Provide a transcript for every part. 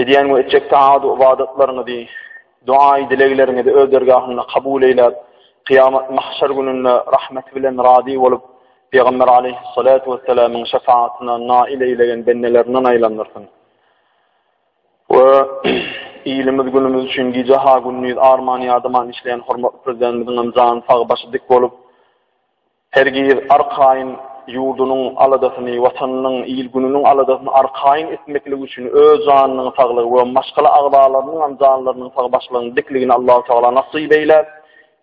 Edýän we etjek taat ybadatlaryňyzy, doaýy dilegleriňizi öz dergahynda kabul eýläp, kyýamat mahşer gününde rahmeti bilen razy bolup, Pygamber aleyhissalatu wessalamyň şefaatyna nail eýlegen bendelerinden aýlandyrsyn. We ilimiz günümiz üçin gije ha gündiz arman ýadaman işleýän hormatly prezidentimiziň hem jany sag başy dik bolup, Hergiz arkaýyn ýurdunyň aladasyny, Watanynyň, il-gününiň aladasyny arkaýyn etmeklik üçin öz janynyň saglygy we maşgala agzalarynyňam janlarynyň sag başlygynyň dikligini Allahu Tagala nasyp eýläp,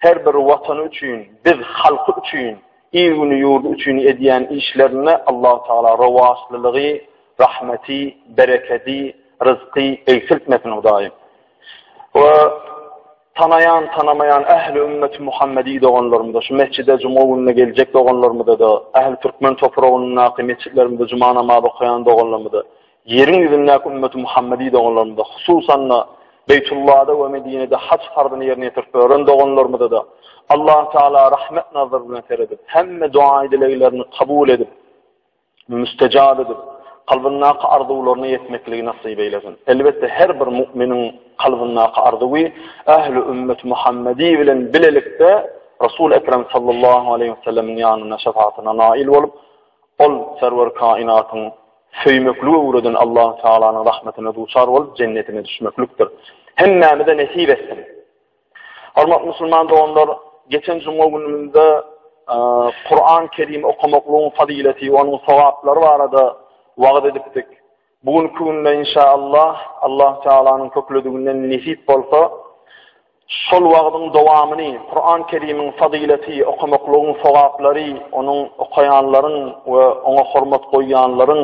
her bir Watany üçin, biz halky üçin, il-güni ýurdy üçin edýän işlerinde Allahu Tagala rowaçlylygy, rahmeti, berekedi, ryzky egsiltmesin Hudaýym. We. Tanaýan, tanamaýan ähli ümmeti Muhammedi doganlarymyza, şu metjide juma gününe geljek doganlarymyza-da, ähli türkmen topragyndaky metjitlerimizde juma namazy okaýan doganlarymyza, ýeriň ýüzündäki ümmeti Muhammedi doganlarymyza, hususan-da, Beýtullada we Medinede haj farzyny ýerine ýetirip bören doganlarymyza-da Allahu Teala rahmet nazary bilen seredip, hemme doa-dileglerini kabul edip, müstejap edip, kalbyndaky arzuwlaryna ýetmekligi nasyp eýlesin. Elbetde her bir mu'miniň kalbyndaky arzuwy ähli ümmet Muhammedi bilen bilelikde Resul Ekrem sallallahu aleyhi ve sellemiň ýanynda şefaatine nail bolup, ol serwer kainatyň söýmekli öwreden Allah Taalanyň rahmetine duçar bolup jennetine düşmeklikdir. Hemmämize nesip etsin. Hormatly musulman doganlar, geçen juma günümizde Kur'an-ı Kerim okumaklygyň fazileti, onuň sogaplary barada wagt edipdik. Bu gün künde inşallah Allah Taalanyň köklediginden nesip bolsa, şol wagtyň dowamyny Kur'an-ı Kerimiň fazileti, okumaklygyň sogaplary, onuň okaýanlaryň we oňa hormat goýýanlaryň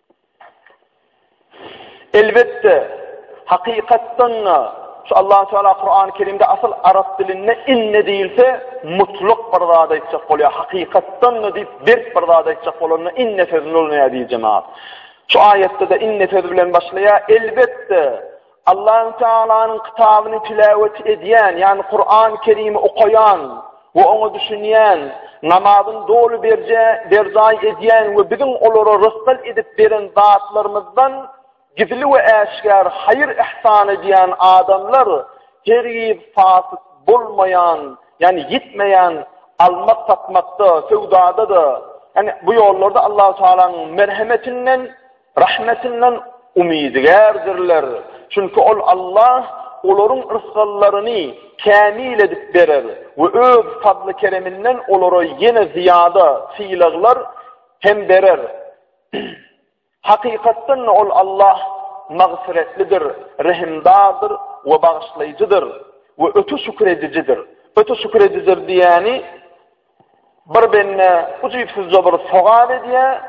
Elbetde, hakykatdan-da, şu Allahu Teala Kurany Kerimde asyl arap dilinde inne diýilse, mutlak bir zat aýtjak bolýar. Hakykatdan-da diýip, berk bir zat aýtjak bolanda inne sözüni ulanýar diýjemok. Şu aýatda-da inne sözi bilen başlaýar. Elbetde, Allahü Tealanyň kitabyny tiläwet edýän, ýagny Kurany Kerimi okaýan we oňa düşünýän, namazyny doly berje berjaý edýän we biziň olara rysgal edip beren zatlarymyzdan gizli we äşgär haýyr-yhsan edýän adamlar hergiz fasyk bolmaýan, ýagny ýitmeýän almak satmakda, söwdada-da, ýagny bu ýollarda Allahü Tealanyň merhemetinden Rahmetinden umydygärdirler, çünki Ol, Allah, olaryň rysgallaryny kämil edip berer we Öz fazly-kereminden olara ýene zyýada, sylaglar, hem berer. Hakykatdan-da Ol, Allah, Magfyretlidir, Rehimdardyr we Bagyşlaýjydyr we öte şükür edijidir. Öte şükür edijidir diýýäni, Bir bende ujypsyzja bir sogap edýär,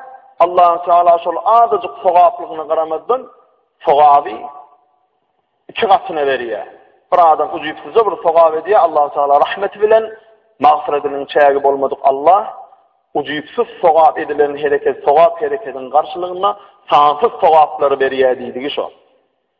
Allahü Teala şol azajyk sogaplygyna garamazdan, sogaby iki gatyna berýär. Bir adam ujypsyzja bir sogap edýär, Allahü Teala rahmeti bilen, magfyratynyň çägi bolmadyk Allah, ujypsyz sogap edilen hereket, sogap hereketiň garşylygynda sansyz sogaplary berýär diýdigi şo.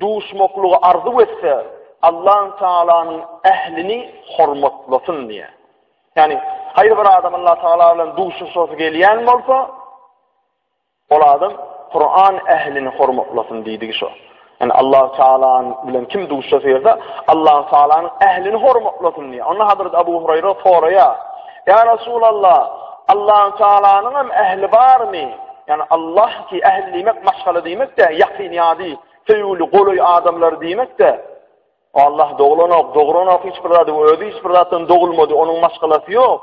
Duşmaklygy arzuw etse, Allan Tagalanyň ählini hormatlasyn diýýär. Ýagny, haýsy bir adam Allan Tagala bilen duşuşasy gelýän bolsa, ol adam Kuran ählini hormatlasyn diýdigi şo. Yani Allah Teala bilen kim duşsa seyirde Allah Teala'nın ehlini hormatlasın diye. Onda Hazreti Abu Hurayra soraya. Ya Resulallah Allahu Taalanyň hem ähli barmy? Ýani Allah ki ähli diýmek maşgala diýmek-de, ýakyn ýady, söýgüli, golaý adamlar diýmek-de. Allah doglanok, dogranok hiç bir zady, özi hiç bir zatdan dogulmady, onuň maşgalasy ýok.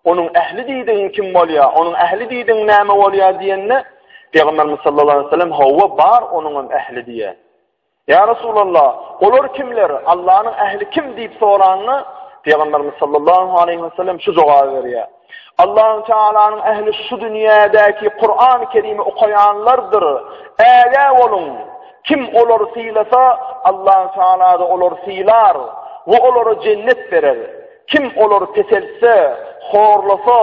Onuň ähli diýdigiň kim bolýar? Onuň ähli diýdiň näme bolýar diýende, Pygamberimiz sallallahu aleyhi ve sellem hawa bar onuň hem ähli diýe. Ýa Resulalla, olar kimler, Allanyň ähli kim diýip soranda, Pygamberimiz sallallahu aleýhi we sellem şu jogaby berýär. Allahu Taalanyň ähli şu dünýädäki Kur'an-ı Kerimi okaýanlardyr. Ägä boluň, kim olar sylasa, Allahu Taala da olar sylar we olara jennet berer. Kim olar peseltse, horlasa,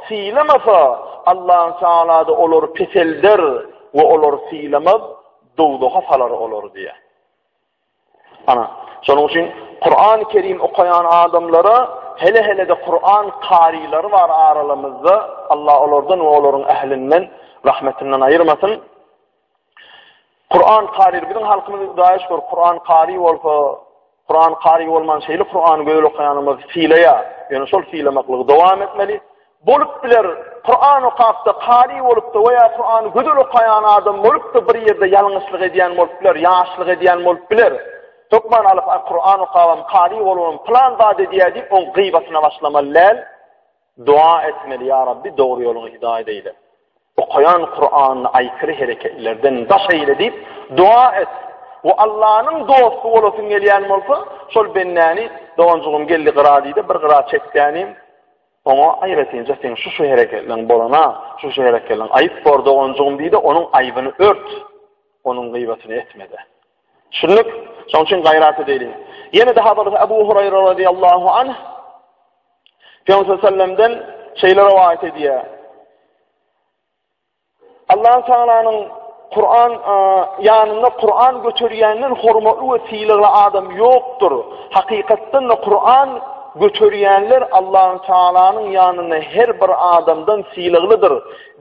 sylamasa, Allahu Taala da olar peselder we olar sylamaz. Dowzaha salar olar diýýär. Ana, şonuň üçin Kur'an-ı Kerim okaýan adamlara hele-hele-de Kur'an karilary bar aralarymyzda. Allah olardan we olaryň ählinden rahmetinden aýyrmasyn. Kur'an kari, biziň halkymyz daýyş bor, Kur'an kari bolsa, Kuran kary bolman şeýle Kurany gözel okaýanymyz sylaýa, ýöne şol sylamaklygy dowam etmeli. Bolup biler, Kuran okapda kary bolupda we ýa Kurany gözel okaýan adam bolupda bir ýerde ýalňyşlyk edýän bolup biler, ýaşlyk edýän bolup biler. Hökman alyp Kuran okabam kary bolubam plan zat edýär diýip oň gybatyna başlamaly däl. Doa etmeli ýa Rabbi dogry ýoluňa hidaýat eýle. Okaýan Kuranyny aýkyry hereketlerden daş eýle diýip doa et. We Allanyň dosty bolasyň gelýän bolsa, şol bendäni doganjygym geldi gyra diýde bir gyra çekdäniň, oňa aýratynja seň şu şu hereketleň bolana, şu şu hereketleň aýyp bor doganjygym diýde onuň aýbyny ört. Onuň gyýbatyny etmede. Düşündik? Şoň üçin gaýrat edeli. Ýene de Hazrat Abu Hurayra radiyallahu anh Peygamber sallallahu aleyhi ve sellem'den şeýle rivayet edýär. Allah Taala'nyň Kur'an e, yanında Kur'an götürýänden hormatly we sylagly adam ýokdur. Hakykatdan da Kur'an götürýänler Allahu Taala'nyň ýanynda her bir adamdan sylaglydyr.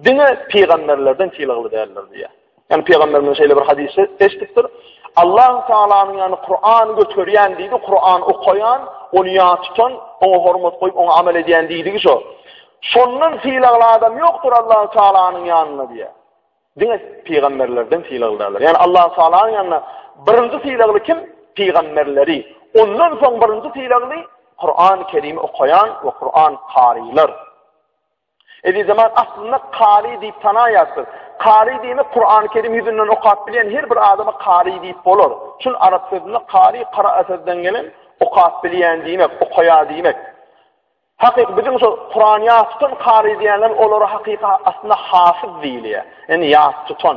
Diňe pygamberlerden sylagly däldir diýýär. Yani Peygamberimiz şeýle bir hadisi eşitipdir. Allah Taalanyň yani Kur'an göterýän diýdi, Kur'an okaýan, ony ýa tutan, oňa hormat goýup, oňa amel edýän diýdigi şo. Şondan fiýlagly adam ýokdur Allah Taalanyň ýanynda diýýär. Diňe pygamberlerden fiýlaglydylar. Yani Allah Taalanyň ýanynda birinji fiýlagly kim? Pygamberleri. Ondan soň birinji fiýlagly Kur'an-ı Kerim okaýan we Kur'an karylar. Ezizeman, aslynda kary diýip tanaýas biz. Kary diýmek Kurany Kerim ýüzünden okap bilýän her bir adama kary diýip bolar. Çün arap sözünde kary kara'a sözden gelen okap bilýän diýmek, okaýar diýmek. Hakyky biziň şu Kurany ýat tutan kary diýenler olara hakyky aslynda hafiz diýilýär. Ýani ýat tutan.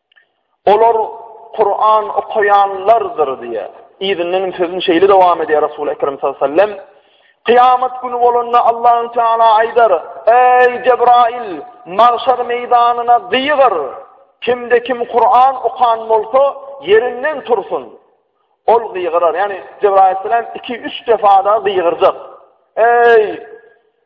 Olar Kur'an okaýanlardyr diýe. Izinden sözüni şeýle dowam edýär Resul Ekrem sallallahu aleyhi ve sellem. Kıyamet günü bolanda Allah'ın Teala aydar, Ey Cebrail, mağşar meydanına diygar. Kimde kim Kur'an okan bolsa yerinden tursun. Ol gygyrar, ýagny Jebraýyl salam 2-3 defada gygyrjak. Eý!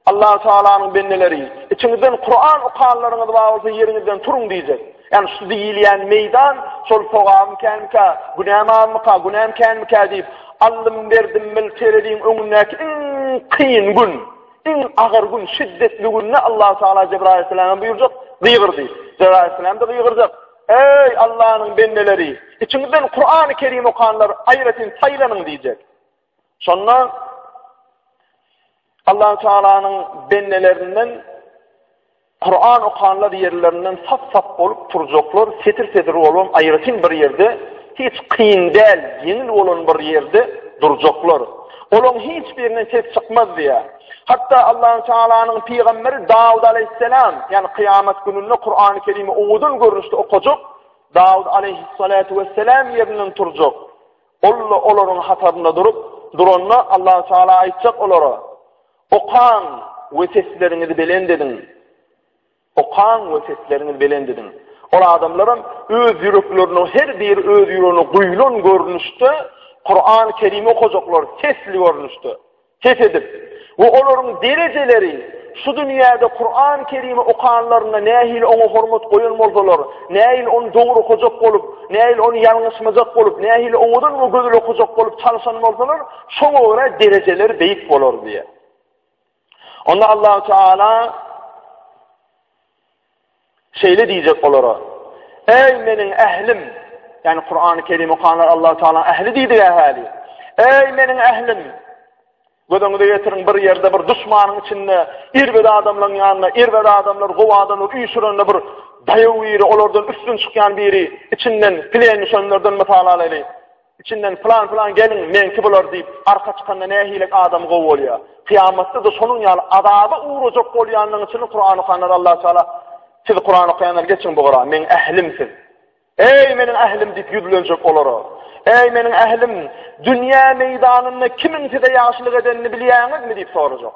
Allah Taalanyň bendeleri, içiňizden Kuran okanlaryňyz bar bolsa ýeriňizden turuň diýjek. Ýagny şu diýilýän meýdan şol sogam känkä, günäm azmyka, günäm känkä diýip, allym berdim bil terediň öňündäki iň kyn gün, iň agyr gün, şiddetli günde Allah Taala Jebraýyl salama buýurjak, gygyrdy. Jebraýyl salam da gygyrjak. Eý, Allanyň bendeleri, içiňizden Kurany Kerim okanlar aýratyn saýlanyň diýjek. Şonda Allah Taalanyň bendelerinden Kur'an okanlar ýerlerinden sap-sap bolup turjaklar, setir-setir bolan aýratyn bir ýerde, hiç kyn däl, ýeňil bolan bir ýerde durjaklar. Olaň hiç birinden ses çykmaz diýýär. Hatda Allahu Taalanyň pygamberi Dawud aleyhisselam, ýani kyýamat gününde Kur'an-ı Kerimi owadan görnüşde okajak Dawud aleyhissalatu vesselam ýerinden turjak. Ol olaryň hatarynda durup, duranda Allahu Taala aýtjak olara: "Okan we sesleriňizi belent ediň." Okaň we sesleriňi belent ediň. Ol adamlaram öz ýürekleriniň her biri öz ýüregine guýlan görnüşde Kurany Kerimi okajaklar, sesli görnüşde, ses edip. We olaryň derejeleri şu dünýäde Kurany Kerimi okanlarynda nähili oňa hormat goýan bolsalar, nähili ony dogry okajak bolup, nähili ony ýalňyşmajak bolup, nähili owadan we gözel okajak bolup çalyşan bolsalar, şoňa görä derejeleri beýik bolar diýýär. Onda Allah Teala şeýle diýjek olara. Ey meniň ählim, ýani Kur'an-ı Kerim okanlar Allah Teala ähli diýdi ähli. Ey meniň ählim, Gözüňize getirin bir ýerde bir düşmanyň içinde irbet adamlaryň ýanynda irbet adamlar gowy adamlar üýşürende bir daýaw biri olardan üstün çykýan biri içinden plen düşenlerden mysal alaýly. Içinden pylan-pylan gelin meňki bolar diýip, arka çykanda nähilek adam gowy bolýar. Kyýamatda-da şonuň ýaly azaba ugrajak bolýanlaryň içinde Kuran okanlar Allah Taala Siz Kuran okaýanlar geçiň bu gyra, meň ählim siz. Eý meniň ählim diýip ýüzlenjek olara. Eý meniň ählim, dünýä meýdanynda kimiň size ýagşylyk edenini bilýäňizmi diýip sorajak.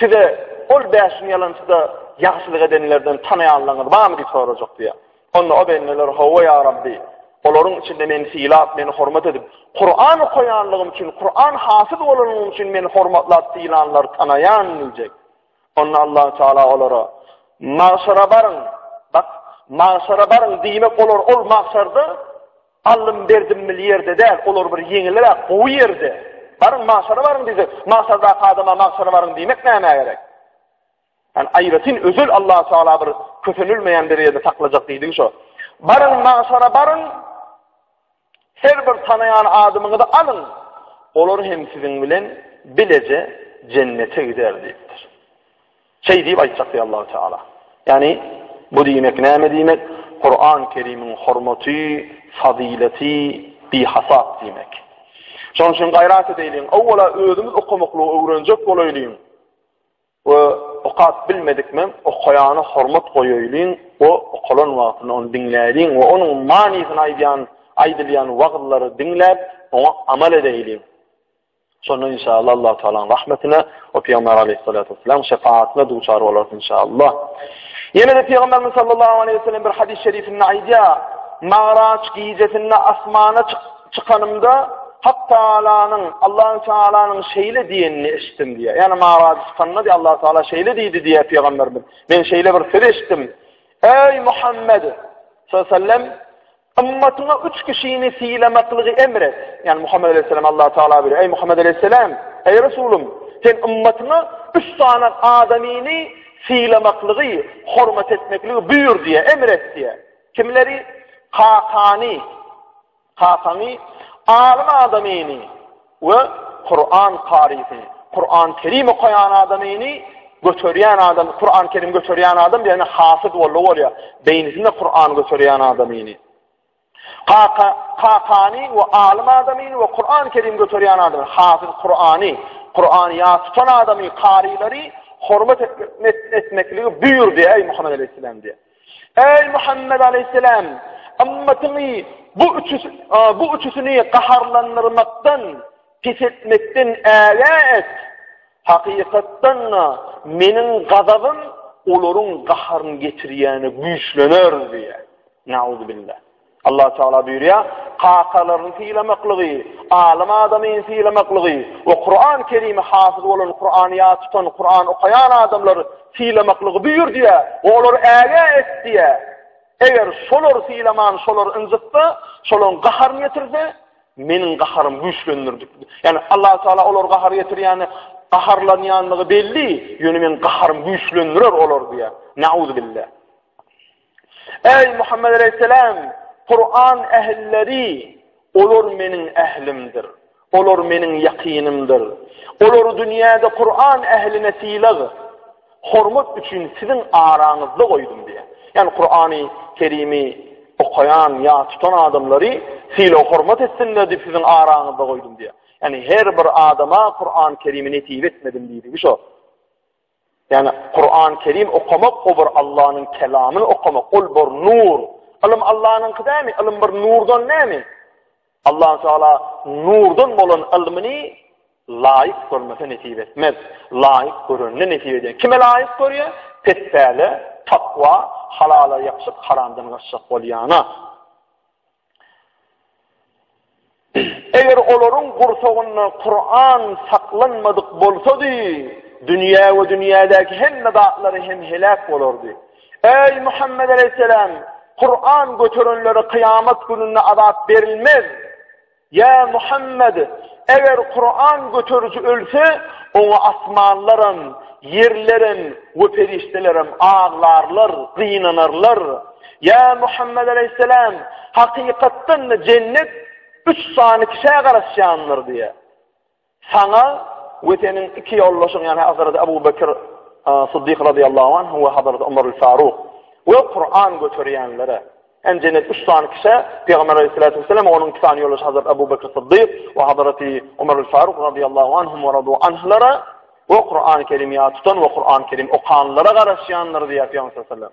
Size ol bäşiň ýalançyda ýagşylyk edenlerden tanaýanlaryňyz barmy diýip sorajak diýýär. Onda o bendeler, Hawa, ýa Rabbi, olaryň içinde meni sylap, meni hormat edip, Kuran okaýanlygym üçin, Kuran hasyz bolanlygym üçin meni hormatlap sylanlary tanaýan diýjek. Onda Allah Taala olara, Magşara baryň, bak, magşara baryň diýmek olar ol magşarda Allym Berdimli ýerde däl, olar bir ýeňilräk gowy ýerde. Baryň magşara baryň diýsek, magşardaky adama magşara baryň diýmek nämä gerek? Ýani aýratyn özel Allahu Teala bir kösenilmeýän derejede saklajak diýdigi şo. Baryň magşara baryň. Her bir tanaýan adamyňyzy alyň. Olar hem siziň bilen bileje jennete gider diýipdir. Şeý diýip aýtjak diýýär Allahu Teala. Ýagny, bu diýmek näme diýmek? Kuran Kerimiň hormaty, fazyleti bihasap diýmek. Şonuň üçin gaýrat edeýliň, owwala özümiz okamaklygy öwrenjek bolaýlyň we okap bilmedik men okaýana hormat goýaýlyň we okalan wagtynda ony diňläýliň we onuň manysyny aýdýan aýdylýan wagyzlary diňläp, oňa amal edeýliň. Şonda inşallah Allah Taala'nın rahmetine o Peygamber Aleyhissalatu vesselam şefaatine duçar olar inşallah. Yine de Peygamberimiz sallallahu aleyhi ve sellem bir hadis şerifinde aýdýar: "Mağraç gijesinde asmana çykanymda Hak Taala'nın Allah Taala'nın şeýle diýenini eşitdim" diýýär. Yani Mağraç çykanda diýýär Allah Taala şeýle diýdi diýýär Peygamberimiz. Men şeýle bir söz eşitdim. Ey Muhammed sallallahu aleyhi ve sellem Ymmatyňa üç kişini sylamaklygy emr et. Ýani Muhammed aleýhissalam Allah Taala buyuruyor. Eý Muhammed aleýhissalam, eý Resulym, sen ymmatyňa üç sany adamyny sylamaklygy, hormat etmekligi buýur diýe, emr et diýe. Kimleri? Kakany, kakaňy, alim adamyny, We Kuran karysyny, Kuran Kerim okaýan adamyny göterýän adam, Kuran Kerim göterýän adam ýagny hafyz boldy bolýar. Beýnisinde Kuran göterýän adamyny. Kaka, kakany we alym adamyny we Kuran Kerim göterýän adamy, hafyz Kurany, Kurany ýa tutan adamy, karylary hormat etmekligi buýurdy, eý Muhammed aleyhisselam diýip. Eý Muhammed aleýhisselam, ymmatyňy bu üçüs bu üçüsini gaharlandyrmakdan, pes etmekden ägä et. Hakykatdan-da, meniň gazabym olaryň gaharyny getirýäne güýçlener diýýär. Nauzubillah. Allah Taala buyurýar, kakalaryny sylamaklygy, alym adamy sylamaklygy we Kuran Kerimi hafiz bolan Kurany ýa tutan Kuran okaýan adamlar sylamaklygy buyur diýe, olar äge et diýe. Eger şolar sylaman, şolar ynjytsa, şolaryň gaharyny ýetirse, meniň gaharym güýçlendirdi. Ýani Allah Taala olar gahar ýetirýäni, gaharlanýanlygy belli, ýöne men gaharym güýçlendirer olar diýe. Nauzubillah. Eý Muhammed aleyhisselam, Kur'an ähilleri, olar meniň ählimdir. Olar meniň ýakynymdyr. Olar dünýäde Kur'an ähline sylag, hormat üçin siziň araňyzda goýdum diýär. Ýani Kur'any Kerimi okaýan ýa tutan adamlary sylag hormat etsinler diýip siziň araňyzda goýdum diýär. Ýani her bir adama Kur'an Kerimi netip etmedim diýdi. Şu. Ýagny Kuran Kerim okamak o bir Allanyň kelamyny okamak, ol bir nur. Ylym Allanyňky dämi? Ylym bir nurdan nämi? Allahu Teala nurdan bolan ylmyny laýyk görmese nesip etmez. Laýyk görende nesip eder. Kime laýyk görýär? Petpäle, takwa, halala ýapyşyp, haramdan gaçjak bolýana. Eger olaryň gursagynda Kuran saklanmadyk bolsady, dünýä we dünýädäki hemme zatlary hem heläk bolardy. Eý Muhammed aleýhissalam, Kuran göterenlere kyýamat gününde azap berilmez. Ýa Muhammed, eger Kuran göteriji ölse, oňa asmanlaram, ýerlerem we perişdelerem aglarlar, gynanarlar. Ýa Muhammet aleýhissalam, hakykatdan-da jennet üç sany kişä garaşýandyr diýýär. Saňa we seniň iki ýoldaşyň, ýagny Hazreti Abu Bekr Siddik radiyallahu anh we Hazreti Umar al-Faruk we Kur'an götürýänlere. En cennet üç tane kişi, Peygamber aleyhissalatu vesselam, onun iki tane yolu Hazreti Abu Bekir Sıddık ve Hazreti Umar al-Faruk radiyallahu anhum ve radu anhlara ve Kur'an-ı Kerim ya tutan ve Kur'an-ı Kerim okanlara karışyanlar diye Peygamber sallallahu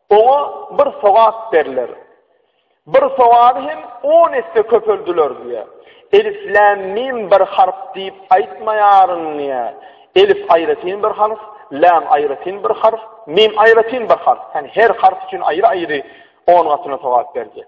Oňa bir sogap berler. Bir sogaby hem on esse köpeldiler diýýär. Elif, lem, mim bir harp diýip aýtmaýaryn diýýär. Elif aýratyn bir harp, lem aýratyn bir harp, mim aýratyn bir harp. Ýani her harp üçin aýry-aýry on gatyna sogap berjek.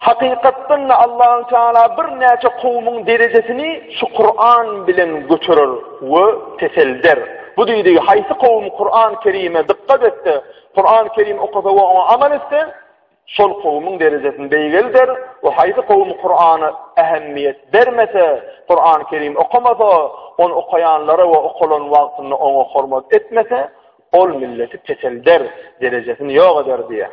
Hakykatdan-da Allahü Teala birnäçe kowumyň derejesini şu Kuran bilen göterer we peselder. Bu diýdigi haýsy kowum Kuran Kerime dykgat etse, Kuran Kerim okasa we oňa amal etse, şol kowumyň derejesini beýgelder we haýsy kowum Kurana ähemmiýet bermese, Kuran Kerim okamasa, ony okaýanlara we okalan wagtynda oňa hormat etmese, ol milleti peselder, derejesini ýok eder diýýär.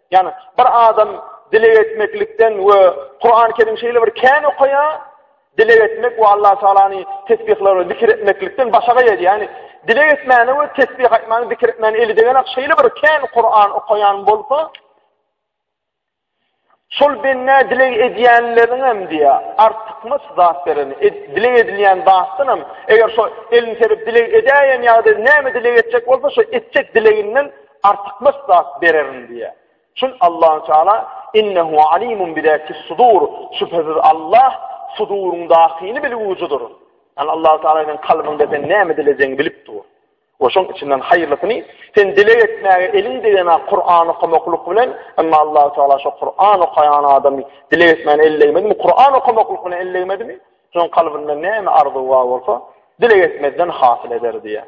Yani bir adam dileg etmeklikden ve Kur'an-ı Kerim şeýle bir kän okaya, dileg etmek ve Allah Teala'nı tesbihler ve zikir etmeklikden başa gayet. Yani dileg etmeni ve tesbih etmeni, zikir etmeni eli degenek şeýle bir kän Kur'an okayan bolsa, şol benne dileg edýänleriň hem diýä, artykmaç zat beren, dileg edilýän zatdan hem, eger şo elini serip dileg edäýen ýagdaýda näme dileg etjek bolsa, şo etjek dileginden Artykmaç zat bererin diýýär. Çün Allahu Teala innehu alimun bizatis sudur. Şübhesiz Allah suduryň dahyny bilgüwüjidir. Yani Allahu Teala senin kalbyňda sen näme dilejegini bilip dur. O şoň içinden haýyrlysyny sen dileg etmäge eliň degene Kur'an okamaklyk bilen, emma Allahu Teala şu Kur'an okaýan adamy dileg etmäni ellemedimi? Kur'an okamaklyk bilen ellemedimi? Şoň kalbynda näme arzuw bar bolsa, dileg etmezden hasyl eder diýär.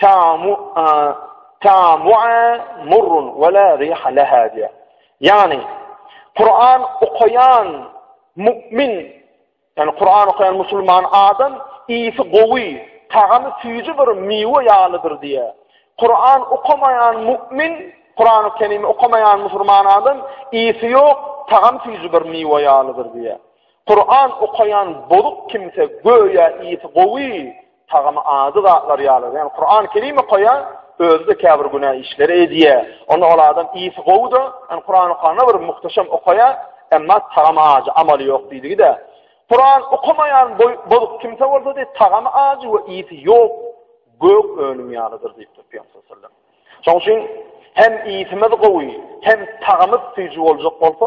Tamu tamu murrun we la riha laha diýär. Ýagny Kur'an okaýan mu'min, ýagny Kur'an okaýan musulman adam iýsi gowy, tagamy süýji bir miwe ýalydyr diýär. Kur'an okamaýan mu'min, Kur'an okyny okamaýan musulman adam iýsi ýok, tagam süýji bir miwe ýalydyr diýär. Kuran okaýan bozuk kimse göýä iýsi gowy, tagamy ady zatlar ýaly. Ýani Kuran Kerim okaýar, özüde käbir günä işleri edýär. Onda ol adam iýsi gowy-da, ýani Kuran okanda bir muhteşem okaýar, emma tagamy ajy, amaly ýok diýdigi-de. Kuran okamaýan bozuk kimse bolsa diý, tagamy ajy we iýsi ýok, gök önüm ýalydyr diýipdir Peygamber sallallahu Şoň üçin hem iýsimiz gowy, hem tagamy süýji boljak bolsa,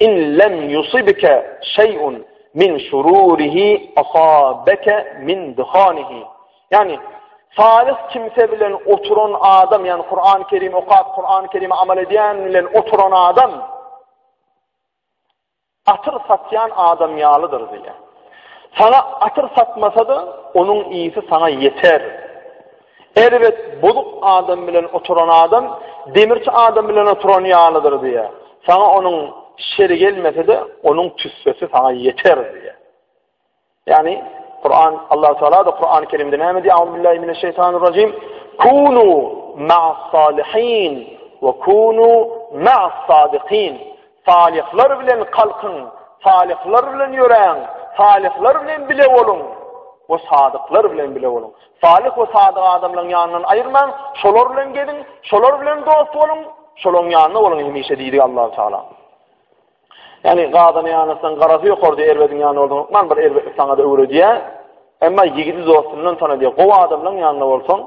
In lem yusibke şeý'un min şururihi asabke min duhanihi. Ýagny, Salis kimse bilen oturan adam, ýagny Kur'an-ı Kerim okap, Kur'an-ı Kerime amal edýän bilen oturan adam, atyr satýan adam ýalydyr diýýär. Sana atyr satmasa-da, onuň iyisi sana ýeter. Erbet, bozuk adam bilen oturan adam demirçi adam bilen oturan ýalydyr diýýär. Saňa onuň şeri gelmese-de, onuň tüssesi saňa ýeter diýýär. Ýagny Kur'an Allah Teala da Kur'an-ı Kerimde näme diýýär? Allahu billahi mineşşeytanirracim. Kunu ma'as-salihin we kunu ma'as-sadikin. Salyhlar bilen kalkyň, salyhlar bilen ýöräň, salyhlar bilen bile boluň we sadyklar bilen bile boluň. Salyh we sadyk adamlaryň ýanyndan aýyrmaň, şolar bilen geziň, şolar bilen dost boluň, şolaryň ýanynda boluň hemişe diýdi Allahu Taala. Yani gazana yanasın, garası yok orada erbedin yanı oldun. Okman bir erbetlik sana da öğrediye. Ama yigidi dostundan tanı diye. Kova adamdan yanına olsun.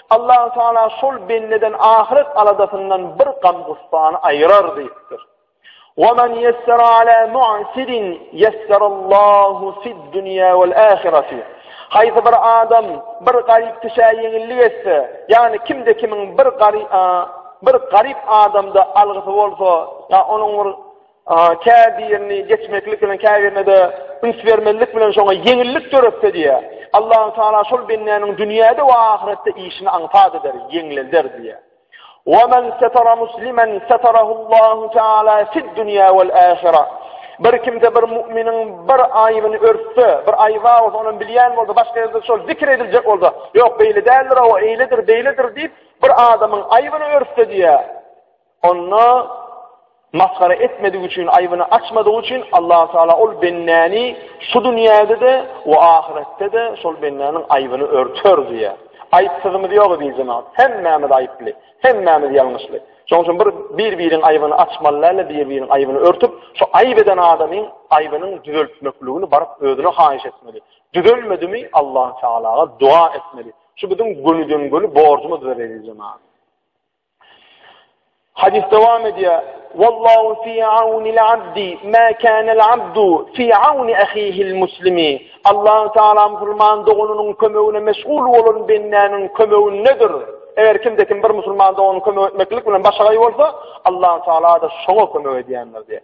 Allahu Teala şol bendeden ahyret aladasyndan bir gam gussany aýyrar diýipdir. Wa men yessara ala mu'sirin yessara Allahu fid dunya wal ahireti. Haýsy bir adam bir garyp kişä ýeňillik etse, ýagny kimde kimiň bir garyp bir garyp adamda algysy bolsa, ýa onuň bir Käbirini geçmeklik bilen, käbirine-de üns bermezlik bilen şoňa ýeňillik döretse diýýär. Allahü Teala şol bendäniň dünýäde we ahyretde işini aňsat eder, ýeňlelder diýýär. Wa men setara muslimen setarahullahu taala fid dunya wal ahira. Bir kimde bir müminiň bir aýybyny örtse, bir aýyba bolsa, ony bilýän bolsa, başga ýerde şol zikr ediljek bolsa, ýok beýle däldir, o eýledir, beýledir diýip, bir adamyň aýybyny örtse diýýär. Onda masgara etmedik üçin, aýbyny açmadygy üçin Allahu Taala ol bendäni şu dünýäde-de we ahyretde-de şol bendäniň aýbyny örter diýýär. Aýypsyzymyz ýok diýip jemaat. Hemmämiz aýyply, hemmämiz ýalňyşly. Şonuň üçin bir bir-biriň aýbyny açmaly däl, bir-biriň aýbyny örtüp, şu aýyp eden adamyň aýbynyň düzeltmekligini baryp özüne haýyş etmeli. Düzelmedimi Allah Taala doga etmeli. Şu biziň gönüden göni borjumyzdyr diýip jemaat. Hadis devam ediyor. Vallahu fi aunil abdi ma kana'l abdu fi auni ahihi'l muslimi. Allah Teala musulman dogunynyň kömegine meşgul bolan bendäniň kömegindedir. Eger kimde kim bir musulman dogunyny kömek etmeklik bilen başagaý bolsa, Allah Teala da şoňa kömek edýändir diýär.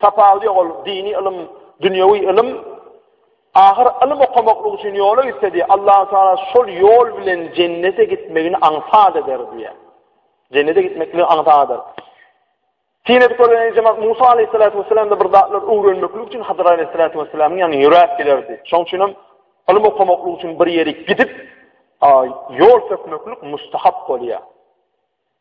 Tapawudy ýok ol dini ylym dünýewi ylym ahyr ylym okamaklyk üçin ýola gitsedi Allahu taala şol ýol bilen jennete gitmegini aňsat eder diýýär. Jennete gitmekligiň aňsadyr. Tinet görýän jemaat Musa aleyhissalatu vesselam da bir zatlar öwrenmeklik üçin Hadyr aleyhissalatu vesselamyň ýanyna ýöräp gelerdi. Şoň üçin hem ylym okamaklyk üçin bir ýere gidip, ýol sökmeklik mustahap bolýar.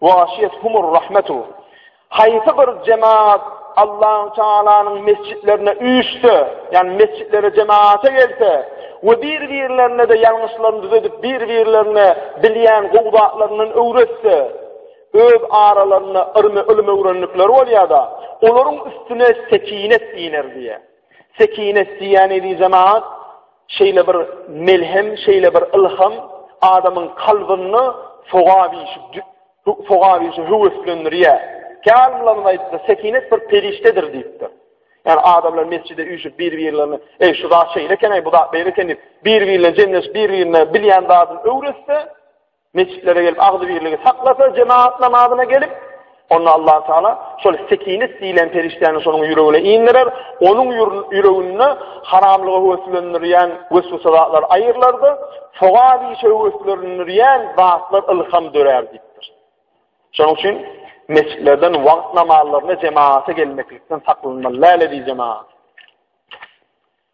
Waşyýet humur rahmetu. Haýsy bir jemagat Allahu Taalanyň mesjitlerine üýşse, ýagny mesjitlere jemagata gelse we bir-birlerine de ýalňyşlaryny düzedip, bir-birlerine bilýän gowy zatlaryndan öwretse, öz aralarynda yrmy ylym öwrendikleri bolýar-da, olaryň üstüne sekinet iner diýýär. Sekinet diýýän ýeri jemagat Şeýle bir melhem, şeýle bir ylham adamyň kalbynda sogap işi, sogap işi höweslendirýär. Kärmylarymyz aýtdy, sekinet bir perişdedir diýipdir. Yani adamlar mescide üyüşüp bir-birlerini, ey şu zat şeyle eken, ey bu zat beyle eken deyip, bir-birine cemleş, bir-birine bilyen zadını övretse, Mesjitlere gelip agzybirligi saklasa, jemagat namazyna gelip, onda Allah Taala şol sekinet diýlen perişdäni şonuň ýüregine indirer, onuň ýüreginde haramlyga höweslendirýän wesweseler aýyrlardy, sogap işe höweslendirýän zatlar ylham dörär diýipdir. Şonuň üçin mesjitlerden wagt namazlaryna jemagata gelmeklikden saklanmaly, läle diýjemagat.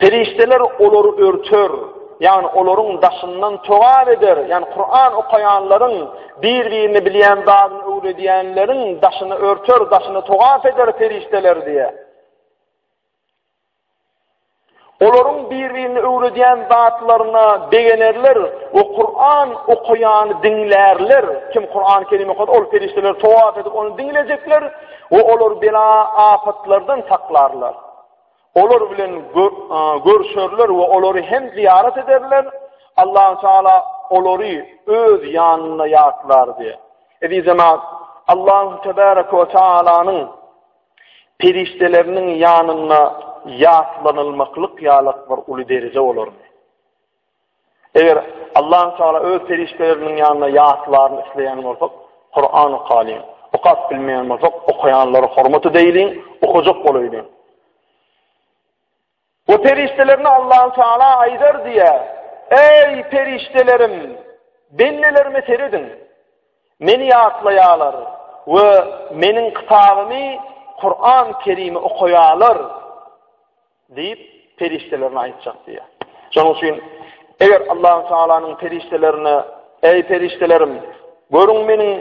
Perişdeler olary örter, ýagny olaryň daşyndan togap eder, ýagny Kuran okaýanlaryň bir-birini bilýän zadyny öwredýänleriň daşyny örter, daşyny togap eder perişdeler diýýär. Olaryň bir-birini öwredýän zatlaryna begenerler we Kur'an okaýany diňlärler. Kim Kur'an kelime okady, ol perişdeler towaf edip ony diňlejekler we olar bela afatlardan saklarlar. Olar bilen görşerler we olary hem zyýarat ederler. Allahu Teala olary öz ýanynda ýatlar diýip. Eziz jemaat, Allahu Teala we Tealanyň perişdeleriniň ýanynda ýatlanylmaklyk ýalak bir uly derje bolar. Eger Allahü Teala öz perişdeleriniň ýanyna ýatlaryny isleýän bolsa, Kuran okalyň. Okap bilmeýän bolsa, okaýanlara hormat edeýliň, okajak bolaýlyň. Bu perişdelerine Allahü Teala aýdar diýýär: Eý perişdelerim, bendelerime serediň. Meni ýatlaýarlar we meniň kitabymy, Kuran Kerimi okaýarlar. Diýip, perişdelerine aýtjak diýýär. Şonuň üçin, eger Allahu Tagalanyň perişdelerine, Eý, perişdelerim, görüň meniň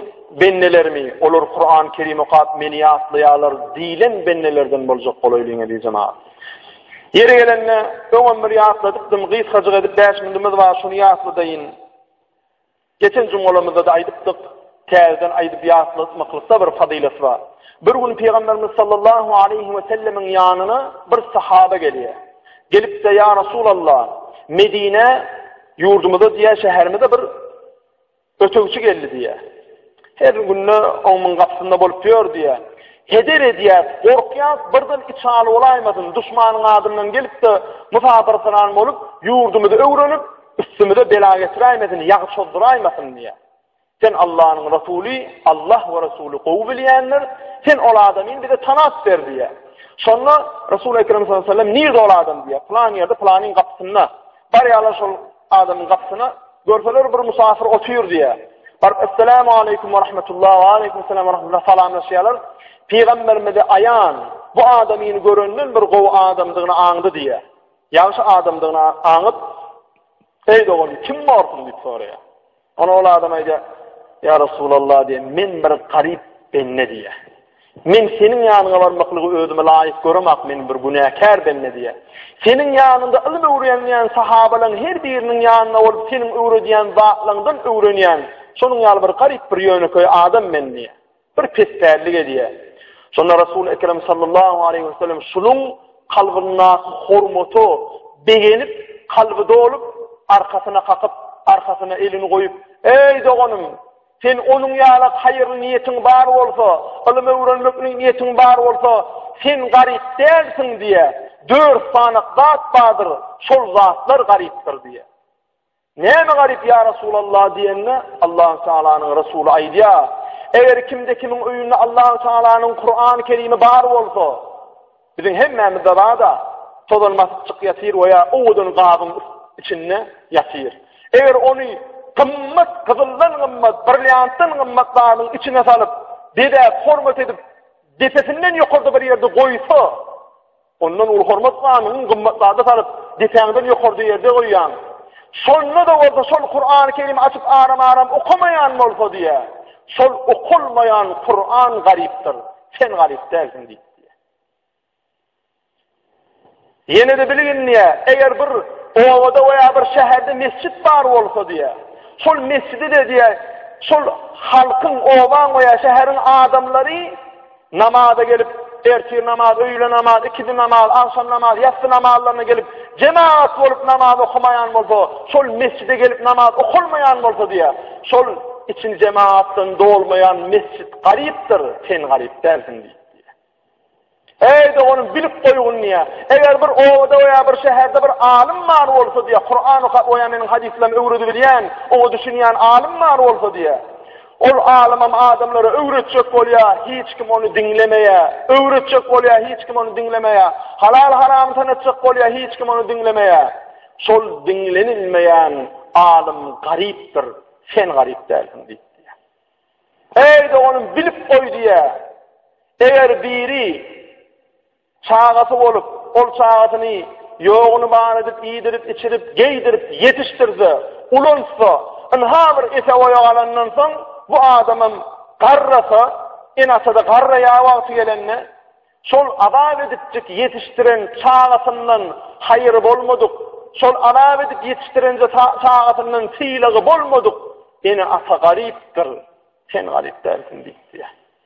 bendelerimi, olar Kuran-y Kerim okap, meni ýatlaýarlar diýlen bendelerden boljak bolaýlyň-a diýjän aýat. Ýeri gelende, öňem bir ýatladypdym, gysgajyk edip bäş minutymyz bar, şuny ýatladaýyn. Geçen jumgalarymyzda-da aýdypdyk, täzeden aýdyp ýatlatmaklykda bir fazylat bar. Bir gün Pygamberimiz sallallahu aleýhi we sellemiň ýanyna bir sahaba gelýär. Gelip-de, ýa Resulallah, Medine ýurdumyza diýýär, şäherimize bir ötegçi geldi diýýär. Her günde oňuň gapysynda bolup ýör diýýär. Heder edýär, gorkýar, birden içaly bolaýmasyn, duşmanyň adyndan gelip-de, musafirperan bolup, ýurdumyzy öwrenip, Üstümize bela getiräýmesin, ýagy çozduraýmasyn diýýär. Sen Allanyň Resuly, Allah we Resuly gowy bilýändir, sen ol adamy bize tanap ber diýýär. Şonda Resul Ekrem sallallahu aleyhi ve sellem nirde ol adam diýýär. Plan ýerde, planyň gapysynda. Barýarlar şol adamyň gapysyna, görseler bir musafir otyr diýýär. Baryp, "Assalamu aleykum we rahmetullah, we aleykum salam we rahmetullah" salamlaşýarlar. Pygamberimize aýan bu adamyny görenden bir gowy adamdygyny aňdy diýýär. Ýagşy adamdygyny aňyp, Eý dogan, kim borsuň diýip soraýar. Ona ol adam aýdýar, Ýa Resulallah diýen, men bir garyp bende diýýär. Men seniň ýanyňa barmaklygy özüme laýyk göremak, men bir günäkär bende diýýär. Seniň ýanyňda ylym öwrenýän sahabalaryň her biriniň ýanyna ol seniň öwredýän zatlaryňdan öwrenýän, şonuň ýaly bir garyp bir ýönekeý adam men diýýär. Bir pespällik edýä. Şonda Resul Ekrem sallallahu aleyhi ve sellem şunuň kalbyndaky hormata begenip, kalby dolup, arkasyna kakyp, arkasyna elini goýup, Eý doganym, sen onuň ýaly haýyrly niýetiň bar bolsa, ylym öwrenmek niýetiň bar bolsa, sen garyp dälsiň diýýär. Dört sany zat bardyr, şol zatlar garypdyr diýýär. Näme garyp, ýa Resulallah? diýende, Allahü Tealanyň Resuly aýdýar, Eger kimde-kimiň öýünde Allahü Tealanyň Kurany Kerimi bar bolsa, biziň hemmämizde bar-da, tozan basyp ýatyr we ýa owadan gabyň içinde ýatyr. Eger ony gymmat, gyzyldan gymmat, brilliantdan gymmat zadyň içine salyp, bezäp, hormat edip, depesinden ýokarda bir ýerde goýsa, Ondan uly hormat ganyň gymmat zada salyp, depäňden ýokarda ýerde goýýaň. Şonda-da bolsa şol Kur'an-y Kerim açyp aram-aram okamaýan bolsa diýe. Şol okulmaýan Kur'an garypdyr. Sen garyp dälsiň diýip. Ýene de bilgin diýe, eger bir obada we bir şäherde mesjid bar bolsa diýe. Şol mesjidi de diýe, şol halkyň, obaň we şäheriň adamlary Namaza gelip, ertir namaz, öýle namaz, ikindi namaz, agşam namaz, ýassy namazlaryna gelip, jemagat bolup namaz okamaýan bolsa, şol mesjide gelip namaz okalmaýan bolsa diýýär. Şol içini jemagatdan dolmaýan mesjit garypdyr, sen garyp dälsiň diýýär. Eý doganym bilip goýgun diýä. Eger bir obada we bir şäherde bir alym bar bolsa diýä, Kuran okap we meniň hadyslarym öwredi bilýän, oňa düşünýän alym bar bolsa diýä. Ol alymam adamlara öwretjek bolýa, hiç kim ony diňlemeýä. Öwretjek bolýa, hiç kim ony diňlemeýä. Halal haramy tanatjak bolýa, hiç kim ony diňlemeýä. Şol diňlenilmeýän alym garypdyr, sen garyp dälsiň diýip. Eýde onuň bilip goý diýä. Eger biri Çagasy bolup, ol çagasyny ýoguny bar edip, iýdirip, içirip, geýdirip, ýetişdirse, ulaltsa, ynha bir ese-boýa galandan soň, bu adamam garrasa, ene-atada garraýar wagty gelende, şol azap edipjik ýetişdiren çagasyndan haýyry bolmadyk, şol azap edip ýetişdiren çagasyndan sylagy bolmadyk ene-ata garypdyr, sen garyp dälsiň diýip diýýär.